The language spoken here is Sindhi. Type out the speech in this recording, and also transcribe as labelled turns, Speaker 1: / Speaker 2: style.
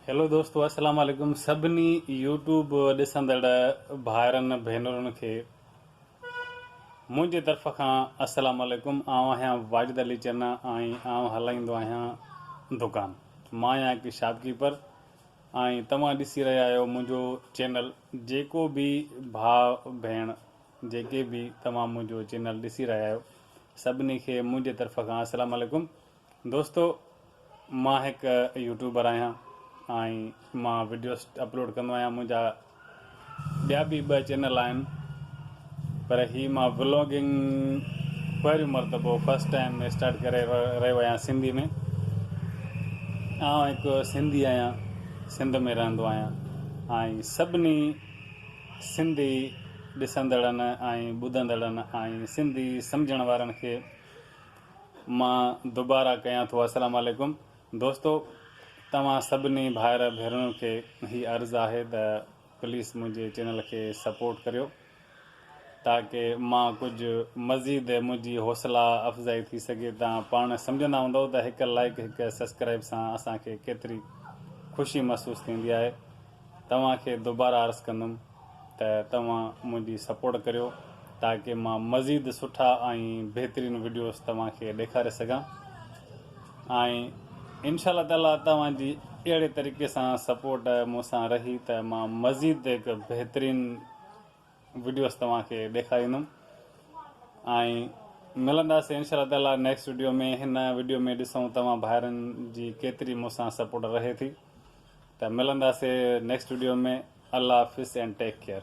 Speaker 1: هيلو دوستو السلام عليڪم سڀني يوٽيوب ڏسندڙ ڀائرن ڀينرن کي منهنجي طرف کان السلام عليڪم آئون آهيان واجد علي چنا ۽ آئون هلائيندو آهيان دڪان مان آهيان هڪ شاپ ڪيپر ۽ توهان ڏسي رهيا آهيو منهنجو چينل جيڪو به ڀاء ڀيڻ جيڪي به توهان منهنجو چينل ڏسي رهيا آهيو سڀني کي منهنجي طرف کان السلام عليڪم دوستو مان هڪ يوٽيوبر آهيان ۽ مان وڊيوس اپلوڊ ڪندو آهيان منهنجا ٻيا به ٻه چينل آهن پر هي مان ولاگنگ پهريون مرتبو فرسٽ ٽائم ۾ اسٽارٽ ڪري رهيو آهيان سنڌي ۾ آئون هڪ سنڌي آهيان سنڌ ۾ رهندو آهيان ۽ سڀني سنڌي ڏسندڙن ۽ ٻڌندڙن ۽ سنڌي سمجهڻ وارن کي مان دوباره ڪيان ٿو السلام عليڪم دوستو توهان سڀني ڀائر ڀينرن کي هي عرض آهي ته پليس منهنجي چينل کي سپورٽ ڪريو تاڪه مان ڪجهه مزيد منهنجي حوصلا افزائي ٿي سگهي تان پاڻ سمجهندا هوندو ته هڪ لائيڪ هڪ سسڪرائيب سان اسان کي ڪيتري خوشي محسوس ٿيندي آهي توهان کي دوباره عرض ڪندم ته توهان منهنجي سپورٽ ڪريو تاڪه مان مزيد سٺا ۽ بهترين وڊيوز توهان کي ڏيکاري سگهان ۽ انشاء الله تعالي توهان جي اهڙي طريقي سان سپورٽ مون سان رهي ته مان مزيد هڪ بهترين وڊيوز توهان کي ڏيکاريندم ۽ ملنداسي انشاء الله تعالي نيڪسٽ وڊيو ۾ هن وڊيو ۾ ڏسون توهان ڀائرن جي ڪيتري مون سان سپورٽ رهي ٿي ته ملنداسي نيڪسٽ وڊيو ۾ الله حافظ اينڊ ٽيڪ ڪيئر.